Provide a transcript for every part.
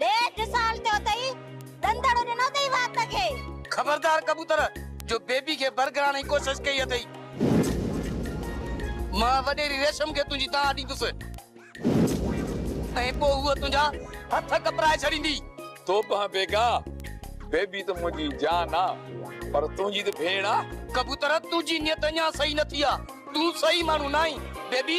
ڏيڍ سال ٿيو اٿئي ڏندڙ ڏنو اٿئي وات کي. خبردار ڪبوتر جو بيبي کي برگران جي ڪوشش ڪئي اٿئي. مان وڏيري ريشم کي تنهنجي دانهن ڏيندس ۽ پوء هوء تنهنجا هٿ ڪپرائي ڇڏيندي. توبهه بيگا، بيبي ته منهنجي جان آ پر تنهنجي ته ڀيڻ آ. ڪبوتر تنهنجي نيت اڃان صحيح نه ٿي آ، تون صحيح ماڻهو ناهين بيبي.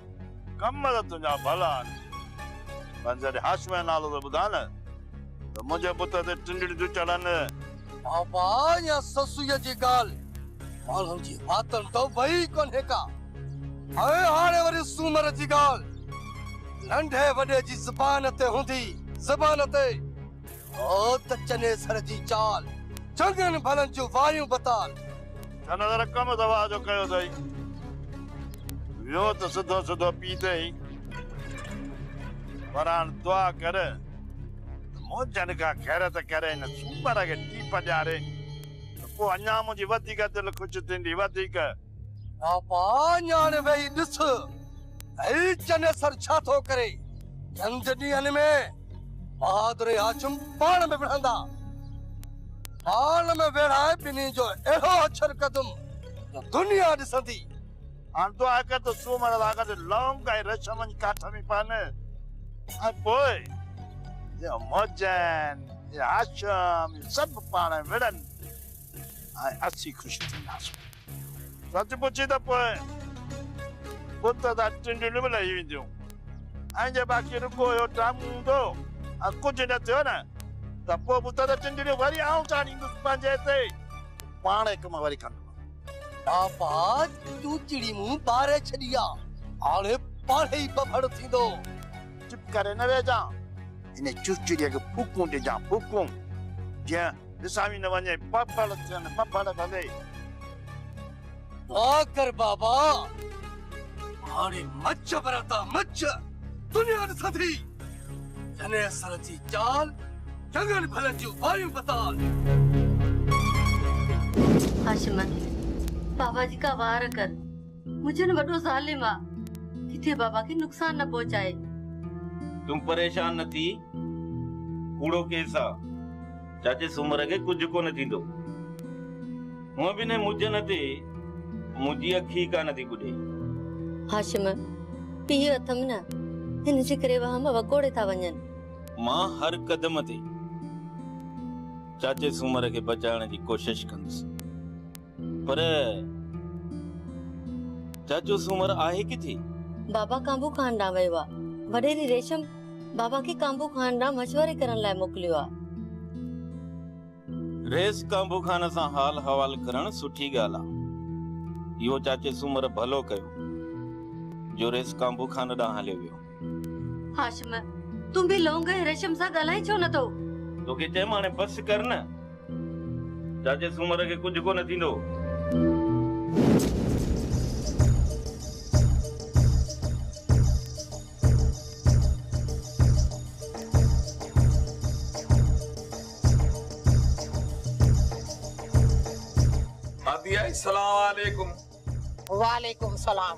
ڪم ته تنهنجا ڀلا آهن، پر جڏهن هاشميء جو نالو ٿو ٻڌان ته منهنجي بت تي ٽنڊڙيون ٿيون چڙهن. بابا يا سسئيء جي ڳالهه ماڻهن جي واتن تان وئي ئي ڪونهي ڪا. ۽ هاڻي وري سومر جي ڳالهه ننڍي وڏي جي زبان تي هوندي زبان تي. هو ته چني سر جي چال. چڱن ڀلن جون واريون بتال. هن ته رقم دوا جو ڪيو اٿئي. ويو ته سڌو سڌو پيء تي ئي. پر هاڻ دعا ڪر ته منهنجن ڪا خيرت ڪري هن سومر کي ٽيپ ڏياري ته پوء اڃا منهنجي وڌيڪ دل خوش ٿيندي وڌيڪ. پاپا نياڻي ويهي ڏس، هي چنيسر ڇا ٿو ڪري؟ جنگ جي ڏينهن ۾ بهادر هاشم پاڻ ۾ وڙهندا. پاڻ ۾ ويڙهائي ٻنهي جو اهڙو اڇر ڪندم جو دنيا ڏسندي. هاڻ دعا ڪر ته سومر واڳ تي لونگ ۽ رشم وڃي ڪاٺ ۾ پون ۽ پوء اهي موجن، اهي هاشم، اهي سڀ پاڻ ۾ وڙهن. ۽ اسين خوش ٿينداسون. سچ پڇي ته پوء بت تان ٽنڊيون به لهي وينديون ۽ جي باقي رڳو اهو ڊرامو هوندو ۽ ڪجهه نه ٿيو نه ته پوء بت تان ٽنڊيون وري آئون چاڙهيندس پنهنجي تي پاڻ اهي ڪم وري ڪندو. بابا تون چڙي مون ٻاري ڇڏي آ، هاڻي پاڻهي ئي ٻڦڙ ٿيندو. چپ ڪري نه ويهجان، هن چڙچڙيء کي ڦوڪون ڏجان ڦوڪون، جيئن. وسامي نه وڃي پڦڙ ٿين پڦڙ ڀلي. دعا ڪر بابا هاڻي مچ براتا مچ دنيا ڏسان ٿي جني اثر جي چال جنگن ڀلن جون واريون پتال. هاشم بابا جي ڪا وار ڪر. مجن وڏو ظالم آ ڪٿي بابا کي نقصان نه پهچائي. تون پريشان نه ٿي ڪوڙو ڪيس آ چاچي سومر کي ڪجهه ڪونه ٿيندو هونء به انهي مجن تي منهنجي اک ئي ڪانه ٿي ٻڏي. هاشم پيء اٿم نه هن جي ڪري وهم وڪوڙي ٿا وڃن. مان هر قدم تي چاچي سومر کي بچائڻ جي ڪوشش ڪندس. پر چاچو سومر آهي ڪٿي؟ بابا ڪانڀو خان ڏانهن ويو آ. وڏيري ريشم بابا کي ڪانڀو خان ڏانهن مشوري ڪرڻ لاء موڪليو آ. ريس ڪانڀو خان سان حال حوال ڪرڻ سٺي ڳالهه آ. اهو چاچي سومر ڀلو ڪيو جو ريس ڪانڀو خان ڏانهن هليو ويو. هاشم تون به لونگ ۽ ريشم سان ڳالهائي ڇو نه ٿو؟ توکي چيم هاڻي بس ڪر نه. چاچي سومر کي ڪجهه ڪونه ٿيندو. مادي آئي سلام عليڪم. وعليڪم سلام.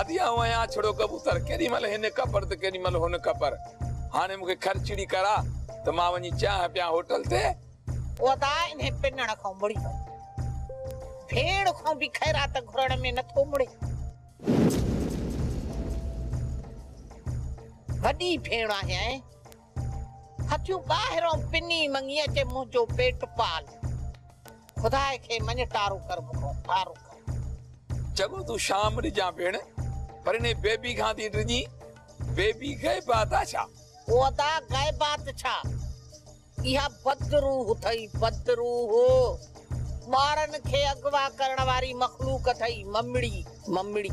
ادي آئون آهيان اڇڙو ڪبوتر، ڪيڏي مهل هن ڪپر ته ڪيڏي مهل هن ڪپر. هاڻي مون کي کرچڙي ڪراء ته مان وڃي چانهه پيان هوٽل تي. ادا انهي پنڻ کان مڙي وڃ. ڀيڻ کان به خيرات گهرڻ ۾ نه ٿو مڙين. وڏي ڀيڻ آهيانء. هٿيون ٻاهرئون پني مڱي اچي منهنجو پيٽ پال خداء کي مڃ ٽارو ڪر مون کان ٽارو ڪر. چڱو تون شام ڏجان ڀيڻ پر انهي بيبي کان ٿي ڊڄين بيبي غيبات آ ڇا؟ او ادا غيبات ڇا اها بد روح اٿئي بد روح ٻارن کي اغوا ڪرڻ واري مخلوق اٿئي ممڙي ممڙي.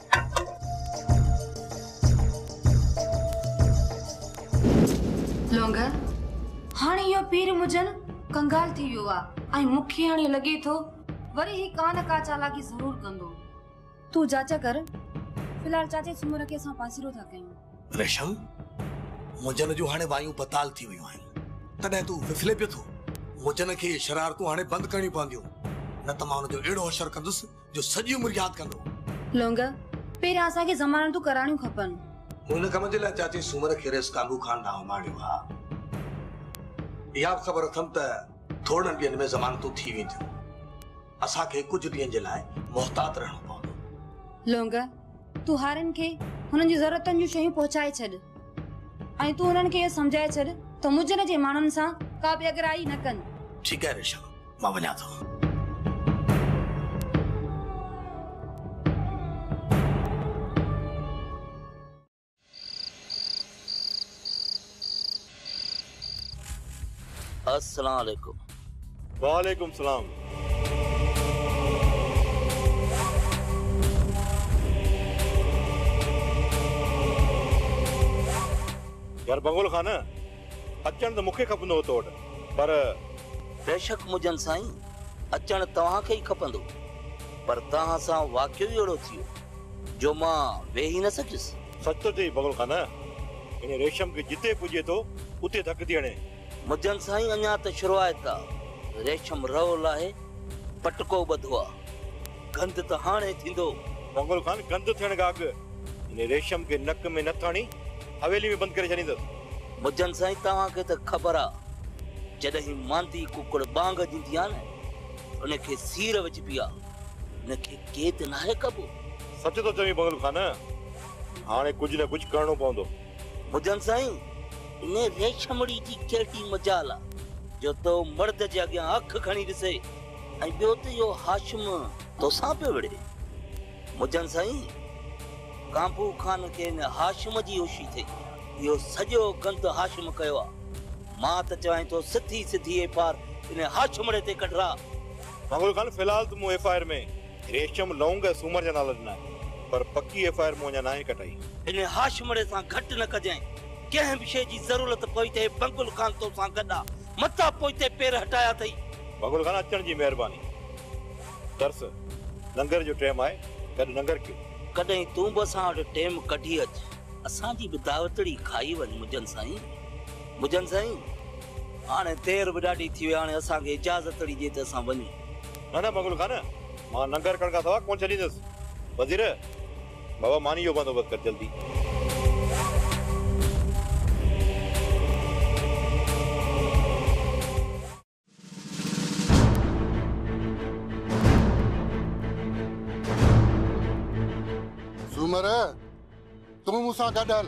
لونگر، هاڻي اهو پير مجن ڪنگال ٿي ويو آ ۽ مون کي هاڻي لڳي ٿو وري هي ڪا نه ڪا چالاڪي ضرور ڪندو. تون جاچ ڪر، في الحال چاچي سومرا کي اسان پاسيرو ٿا ڪيون. ريشم، مجن جون هاڻي وايون بتال ٿي ويون آهن، تڏهن تون ڦڦلين پيو ٿو. مجن کي اهي شرارتون هاڻي بند ڪرڻيون پونديون، نه ته مان ان جو اهڙو حشر ڪندس جو سڄي عمر ياد ڪندو. لونگ، پهريان اسان کي ضمانتون ڪراڻيون کپن. مون هن ڪم جي لاء چاچي سومر کيريس ڪانگو خان ڏانهن اماڻيو ها. اها به خبر اٿم ته ٿورڙن ڏينهن ۾ ضمانتون ٿي وينديون. اسان کي ڪجهه ڏينهن جي لاء محتاط رهڻو پوندو. لونگ، تون هارين کي هنن جي ضرورتن جون شيون پهچائي ڇڏ ۽ تون هنن کي اهو سمجهائي ڇڏ ته مجن جي ماڻهن سان ڪا بي اڳرائي نه ڪن. ٺيڪ آهي ريشم. مان وڃان ٿو. السلام عليڪم. وعليڪم سلام. يار بنگول خان. اچڻ ته مون کي کپندو هو تو وٽ پر. بيشڪ مجن سائين! اچڻ توهان کي ئي کپندو پر توهان سان واقعو ئي اهڙو ٿيو جو مان ويهي نه سگهيس. سچ ٿو چئين بغل خان! هن ريشم کي جتي پڄي ٿو اتي ڌڪ ٿي هڻي. مجن سائين اڃا ته شروعات آ. ريشم رئو لاهي پٽڪو ٻڌو آ. گند ته هاڻي ٿيندو. بغل خان گند ٿيڻ کان اڳ هن ريشم کي نڪ ۾ نٿ هڻي؟ حويلي ۾ بند ڪري ڇڏيندس. مجن سائين توهان کي ته خبر آ جڏهين ماندي ڪڪڙ ٻانگ ڏيندي آ نه ان کي سير وجهبي آ ان کي قيد ناهي ڪبو. سچ ٿو چوين بنگل خان هاڻي ڪجهه نه ڪجهه ڪرڻو پوندو. مجن سائين ان ريشمڙي جي ڪهڙي مجال آ جو تو مرد جي اڳيان اک کڻي ڏسي ۽ ٻيو ته اهو هاشم توسان پيو وڙهي. مجن سائين! ڪانپو خان کين هاشم جي هوشي ٿئي. اهو سڄو گند هاشم ڪيو آ. مان ته چوائين ٿو سڌي سڌي ايف آر انهي هاشمڙي تي ڪڍراء. مغل خان في الحال ته مون ايف آر ۾ ريشم، لونگ ۽ سومر جا نالا ڏنا آهن پر پڪي ايف آر مون اڃا ناهي ڪٽائي. انهي هاشمڙي سان گهٽ نه ڪجانء. ڪنهن به شيء جي ضرورت پوي ته هي مغل خان تو سان گڏ آ. متان پوئتي پير هٽايا اٿئي. مغل خان اچڻ جي مهرباني. ترس، ننگر جو ٽيم آهي، گڏ ننگر ڪيون. ڪڏهن تون به اسان وٽ ٽيم ڪڍي اچ. اسان جي به دعوتڙي کائي وڃ مجن سائين. مجن سائين، هاڻي دير به ڏاڍي ٿي وئي، هاڻي اسان کي اجازتڙي ڏي ته اسان وڃون. نه نه مغل خان، مان ننگر ڪرڻ کان سواء ڪونه ڇڏيندس. وزير، بابا مانيء جو بندوبست ڪر جلدي. سومر! تون مون سان گڏ هل،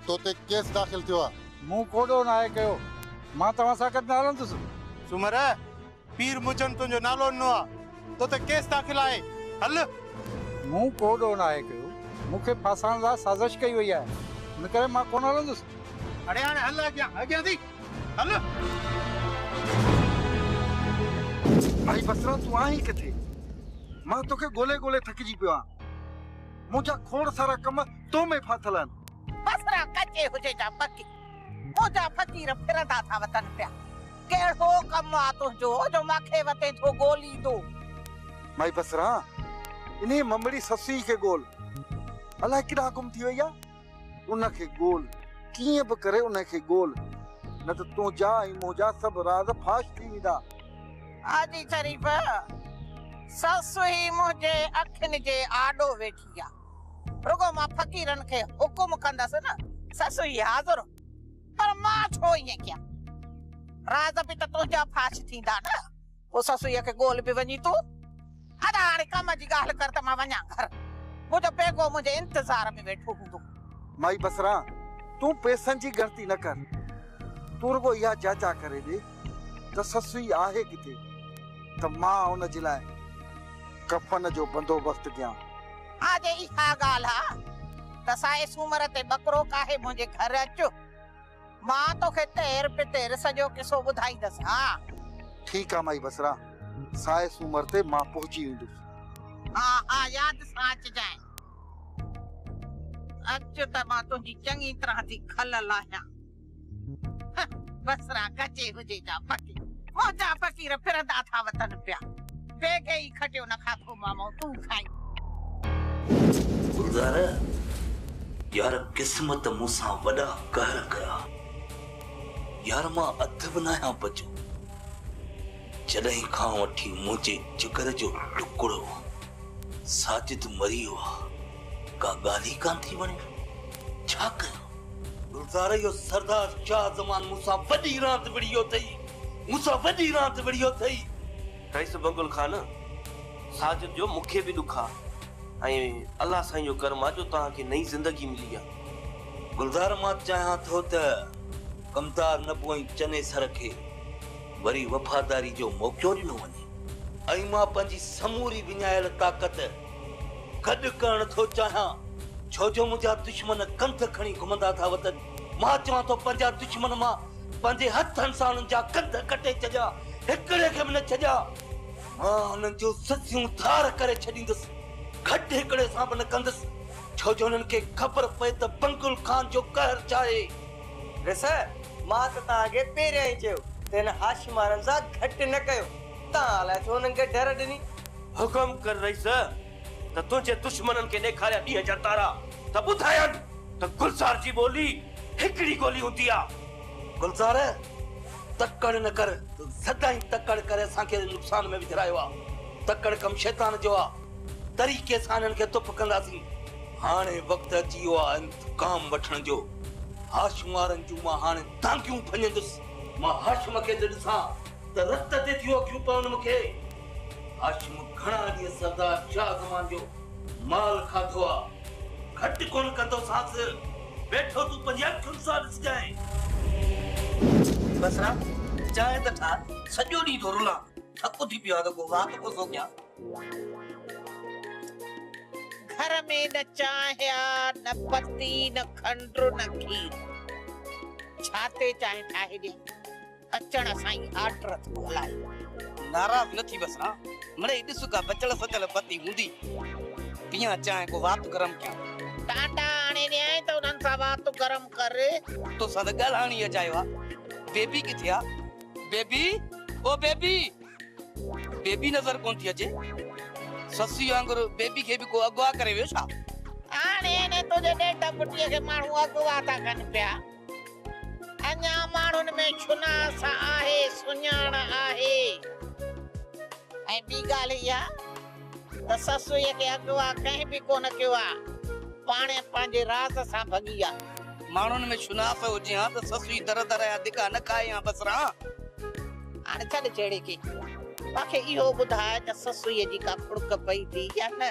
تو تي ڪيس داخل ٿيو آهي. مون ڪو ڏوهه ناهي ڪيو، مان توهان سان گڏ نه هلندس. سومر! پير مجن تنهنجو نالو ڏنو آهي، تو تي ڪيس داخل آهي، هل. مون ڪو ڏوهه ناهي ڪيو، مون کي ڦاسائڻ لاء سازش ڪئي وئي آهي، ان ڪري مان ڪونه هلندس. اڙي هاڻي هل اڳيان، اڳيان ٿي. ڀائي بصرا تون آهين ڪٿي؟ مان توکي ڳولي ڳولي ٿڪجي پيو آهيان. منهنجا کوڙ سارا ڪم تو ۾ ڦاٿل آهن. بصرا ڪچي هجي جا پڪي منهنجا فقير ڦرندا ٿا وتن پيا. ڪهڙو ڪم آ تنهنجو جو مان کي وتين ٿو ڳوليندو. ڀائي بصرا انهي ممڙي سسئي کي ڳول. الائي ڪيڏانهن گم ٿي وئي آ. ان کي ڳول، ڪيئن به ڪري انهي کي ڳول، نه ته تنهنجا ۽ منهنجا سڀ راز فاش ٿي ويندا. حاجي شريف، سس هي منهنجي اکين جي آڏو ويٺي آ، رڳو مان فقيرن کي حڪم ڪندس نه، سس هي حاضر، پر مان ڇو ائين ڪيان، راز به ته تنهنجا فاش ٿيندا نه، پوء سسئيء کي ڳول به وڃين تون. ادا هاڻي ڪم جي ڳالهه ڪر ته مان وڃان گهر. منهنجو پيڪو منهنجي انتظار ۾ ويٺو هوندو. مائي بصره تون پئسن جي ڳڻتي نه ڪر. تون رڳو اها جاچا ڪري ڏي ته سسئي آهي ڪٿي ته مان ان جي لاء ڪفن جو بندوبست ڪيان. ها جي اها ڳالهه آ ته سائي سومر تي ٻڪرو ڪاهي منهنجي گهر اچ. مان توکي تير پتير سڄو قصو ٻڌائيندس ها. ٺيڪ آ مائي بصرا، سائي سومر تي مان پهچي ويندس. ها ها ياد سان اچجانء. اچ ته مان تنهنجي چڱي طرح ٿي کل لاهيان. هه بصرا ڳچي هجي جا فقير، منهنجا فقير ڦرندا ٿا وتن پيا. پي کي ئي کٽيو نه کاکو مامو تون کائين. گلزار! يار قسمت مون سان وڏا قهر ڪيا. يار مان اڌ به ناهيان بچو. جڏهن کان وٺي منهنجي جگر جو ٽڪڙو ساجد مري ويو آ ڪا ڳالهه ئي ڪانه ٿي وڻي. ڇا ڪيان؟ گلزار! اهو سردار شاهه زمان مون سان وڏي راند وڙهي ويو اٿئي. مون سان وڏي راند وڙهي ويو اٿئي. قيس بن گل خان ساجد جو مون کي به ڏک آ ۽ الله سائين جو ڪرم آ جو توهان کي نئين زندگي ملي آ. گلزار مان چاهيان ٿو ته ڪمتار نه پوئين چنيسر کي وري وفاداري جو موقعو ڏنو وڃي. ۽ مان پنهنجي سموري وڃايل طاقت گڏ ڪرڻ ٿو چاهيان ڇو جو منهنجا دشمن ڪنڌ کڻي گهمندا ٿا وتن. مان چوان ٿو پنهنجا دشمن مان پنهنجي هٿن سان انهن جا ڪنڌ ڪٽي ڇڏيان، هڪڙي کي به نه ڇڏيان. مان انهن جون سسيون ڌار ڪري ڇڏيندس، گهٽ هڪڙي سان به نه ڪندس، ڇو جو انهن کي خبر پئي ته بنگل خان جو قهر ڇا آهي. ريس، مان ته توهان کي پهريان ئي چيو ته هن هاشمارن سان گهٽ نه ڪيو، توهان الائي ڇو هنن کي ڍر ڏني. حڪم ڪر رئيس، ته تنهنجي دشمنن کي ڏيکاريا ڏينهن جا تارا ته ٻڌايان ته گلزار جي ٻولي هڪڙي ڳولي هوندي آ. گلزار! تڪڙ نه ڪر، سدائين تڪڙ ڪري اسان کي نقصان ۾ وجهرايو آ. تڪڙ ڪم شيطان جو آ. طريقي سان هنن کي تپ ڪنداسين. هاڻي وقت اچي ويو آ انتقام وٺڻ جو. هاشم وارن جون مان هاڻي دانگيون ڀڃندس. مان هاشم کي ته ڏسان ته رت تي ٿيون اکيون پون مون کي. هاشم گهڻا ڏينهن سردار شاهه زمان جو مال کاڌو آ. گهٽ ڪونه ڪندوسانس. ويٺو تون پنهنجي اکين سان ڏسجانء. بصرا، چانهه ته ٺاهه، سڄو ڏينهن ٿو رلان، ٿڪ ٿي پيو آ ته ڪو واڪ ڪو ٿو ڪيان. گهر ۾ نه چانهه آ، نه پتي، نه کنڊ، نه کير. ڇا تي چانهه ٺاهي ڏيان؟ اچڻ سان ئي آرڊر ٿو هلائي. ناراض نه ٿي بس ها. مڙئي ڏس ڪا بچل سچل پتي هوندي. پيان چانهه ڪو وات گرم ڪيان. ٽانڊا آڻي ڏيانء ته انهن سان وات گرم ڪر. تو سان ته ڳالهائڻ ئي اجايو آ. بيبي ڪٿي آ؟ بيبي او بيبي. بيبي نظر ڪونه ٿي اچي. سسئي وانگر بيبي کي به ڪو اغوا ڪري ويو ڇا؟ هاڻي انهي تنهنجي ڏيڍ پٽيء کي ماڻهو اغوا ٿا ڪن پيا. اڃا ماڻهن ۾ شناس آهي، سڃاڻ آهي. ۽ ٻي ڳالهه اها ته سسئي کي اغوا ڪنهن به ڪونه ڪيو آ، پاڻهي پنهنجي راز سان ڀڳي آ. ماڻهن ۾ شناس هجي ها ته سسئي در در جا ڌڪا نه کائي ها بس ران. هاڻي ڇڏ جهيڙي کي، مون کي اهو ٻڌاء ته سسئي جي ڪا ڦڙڪ پئي ٿي يا نه؟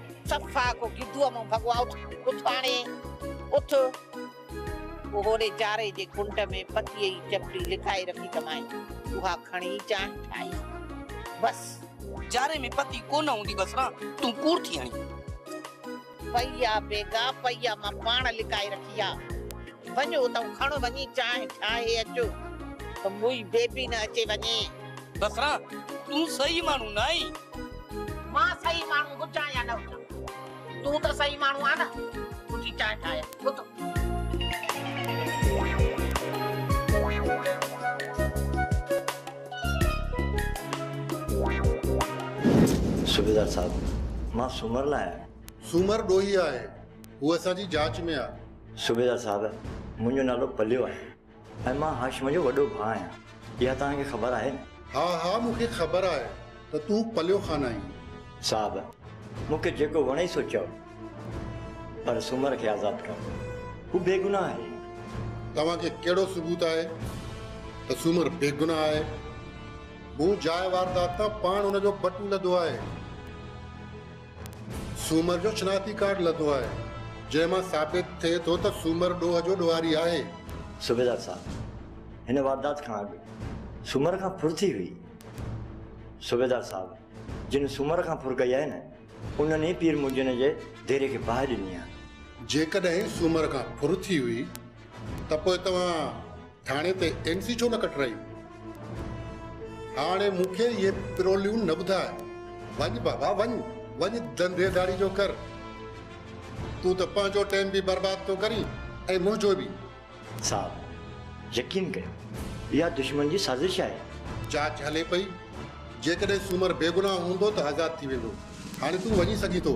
صفا ڪو گدوء مون ڀڳو آ اٿ اٿ ڀاڻي اٿ. پوء هوڏي جاري جي کنڊ ۾ پتيء جي چپڙي لڪائي رکي ڪمائين اها کڻي چانهه ٺاهي بس. جاري ۾ پتي ڪونه هوندي بس نا تون ڪوڙ ٿي هڻي. پئي آ بيگا پئي آ مان پاڻ لڪائي رکي آ وڃ اتئون کڻ وڃي چانهه ٺاهي اچ. ته موئي بيبي نه اچي وڃي. بصرا، تون صحيح ماڻهو نه آهين. مان صحيح ماڻهو هجان يا نه هجان، تون ته صحيح ماڻهو آهين نه. اٿي چانهه ٺاهه يا اٿ. صوبيدار صاحب، مان سومر نه آهيان. سومر ڏوهي آهي. هو اسان جي جاچ ۾ آهي. صوبيدار صاحب، منهنجو نالو پليو آهي. ۽ مان هاشم جو وڏو ڀاء آهيان. اها توهان کي خبر آهي؟ ها ها مون کي خبر آهي ته تون پليو خان آهين. صاحب! مون کي جيڪو وڻي سو چئو پر سومر کي آزاد ڪر. هو بيگناهه آهي. توهان کي ڪهڙو ثبوت آهي ته سومر بيگناهه آهي؟ مون جاء واردات تان پاڻ ان جو بٽن لڌو آهي. سومر جو شناختي ڪارڊ لڌو آهي، جنهن مان ثابت ٿئي ٿو ته سومر ڏوهه جو ڏوهاري آهي. صوبيدار صاحب، هن واردات کان اڳ سومر کان ڦر ٿي هئي؟ صوبيدار صاحب، جن سومر کان ڦر ڪئي آهي نه، انهن ئي پير منجهن جي ديري کي باهه ڏني آهي. جيڪڏهن سومر کان ڦر ٿي هئي ته پوء توهان ٿاڻي تي اين سي ڇو نه ڪٽرائي؟ هاڻي مون کي اهي پروليون نه ٻڌاء. وڃ بابا وڃ، وڃ ڌنڌي ڌاڙي جو ڪر. تون ته پنهنجو ٽيم به برباد ٿو ڪرين ۽ منهنجو به. صاحب! يقين ڪيو، اها دشمن جي سازش آهي. جاچ هلي پئي. جيڪڏهن سومر بيگناهه هوندو ته آزاد ٿي ويندو. هاڻي تون وڃي سگهين ٿو.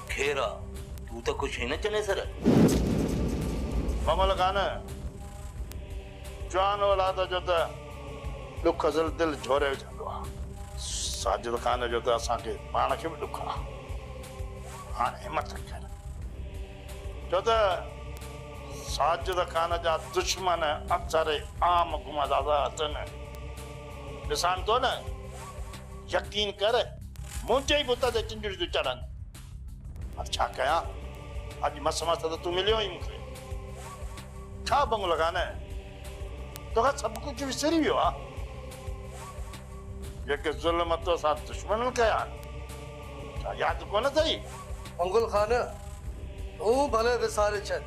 خير آ تون ته خوش هين چنيسر. ممل خان جوان اولاد جو ته ڏک ذل دل جهوري وجهندو آ. ساجد خان جو ته اسان کي پاڻ کي به ڏک آ. هاڻ همت رکيل ڇو ته ساجد خان جا دشمن اڪثر عام گمازازا اٿن. ڏسان ٿو نه يقين ڪر منهنجي ئي بت تي چنجڙيون ٿيون چڙهن. هاڻي ڇا ڪيان؟ اڄ مس مس ته تون مليو آهين مون کي. خواب وانگر لڳا نه؟ تو کان سڀ ڪجهه وسري ويو آ. جيڪي ظلم تو سان دشمنن ڪيا آهن، ڇا ياد ڪونه اٿئي؟ منگل خان، تون ڀلي وساري ڇڏ.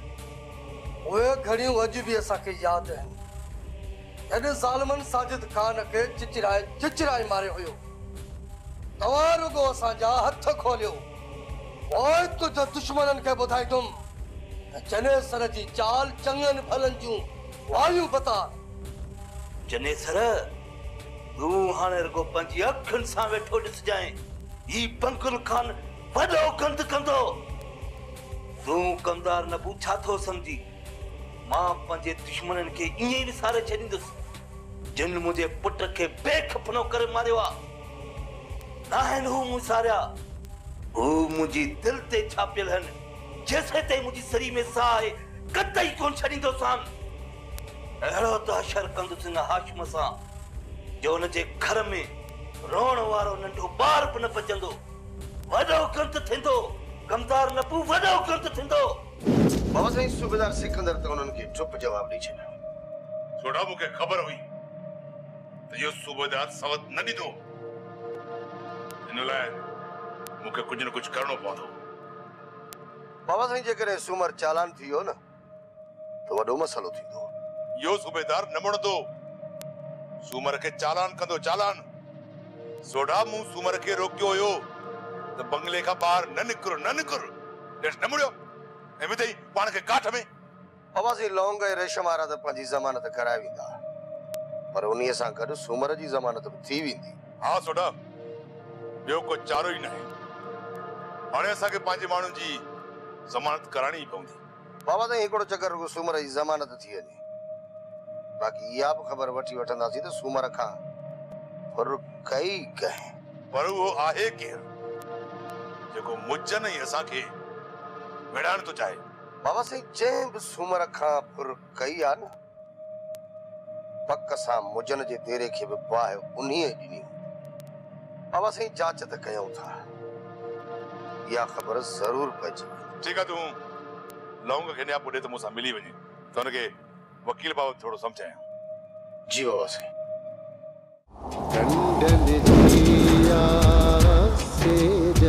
اهي گهڙيون اڄ به اسان کي ياد آهن. هن ظالمن ساجد خان کي چچرائي چچرائي ماريو هيو. توهان رڳو اسان جا هٿ کوليو. پوء ڪجهه دشمنن کي ٻڌائيندم ته جنيسر جي چال چڱن ڀلن جون واريون بتار. جنيسر! تون هاڻي رڳو پنهنجي اکين سان ويٺو ڏسجانء. هي بنگل خان وڏو گند ڪندو. تون ڪمدار نبو ڇا ٿو سمجهين؟ مان پنهنجي دشمنن کي ائين ئي وساري ڇڏيندس، جن منهنجي پٽ کي بي خپنو ڪري ماريو آ. ناهن هو مون ساريا، هو منهنجي دل تي ڇاپيل هن، جيسين تائين منهنجي سري ۾ ساهه آهي، قطعي ڪونه ڇڏيندوسان. اهڙو ته حشر ڪندس هن هاشم سان، جو هن جي گهر ۾ روئڻ وارو ننڍو ٻار به نه بچندو. وڏو گند ٿيندو، غمدار نبو وڏو گند ٿيندو. بابا سائين صوبيدار سڪندر ته انهن کي چپ جواب ڏئي ڇڏيو. جوڌا مون کي خبر هئي ته اهو صوبيدار سوت نه ڏيندو. ان لاء مون کي ڪجهه نه ڪجهه ڪرڻو پوندو. بابا سائين جيڪڏهن سومر چالان ٿي ويو نه ته وڏو مسئلو ٿيندو. اهو صوبيدار نه مڙندو. سومر کي چالان ڪندو چالان. سوڍا مون سومر کي روڪيو هيو ته بنگلي کان ٻاهر نه نڪر نه نڪر. ڄڻ ٽمڙيو ۽ وڌئي پاڻ کي ڪاٺ ۾. اواسين لونگ ۽ ريشم وارا ته پنهنجي ضمانت ڪرائي ويندا پر انهيء سان گڏ سومر جي ضمانت به ٿي ويندي. ها سوڍا، ٻيو ڪو چارو ئي ناهي. هاڻي اسان کي پنهنجي ماڻهن جي ضمانت ڪرائڻي ئي پوندي. بابا سائين هڪڙو چڪر رڳو سومر جي ضمانت ٿي وڃي باقي اها به خبر وٺي وٺنداسين ته سومر کان ڦر ڪئي ڪنهن. پر اهو آهي ڪير جيڪو مجن ۽ اسان کي ويڙهائڻ ٿو چاهي. بابا سائين جنهن به سومر کان ڦر ڪئي آ نه. پڪ سان مجن جي ديري کي به باهه انهيء ڏني هوندي. بابا سائين جاچ ته ڪيائون ٿا. اها خبر ضرور پئجي ويندي. ٺيڪ آهي تون لونگ کي نياپو ڏي ته مون سان ملي وڃي ته هن کي وڪيل بابت ٿورو سمجهايان. جي بابا سائين. ڍنڍ ڏٺي آ سيج.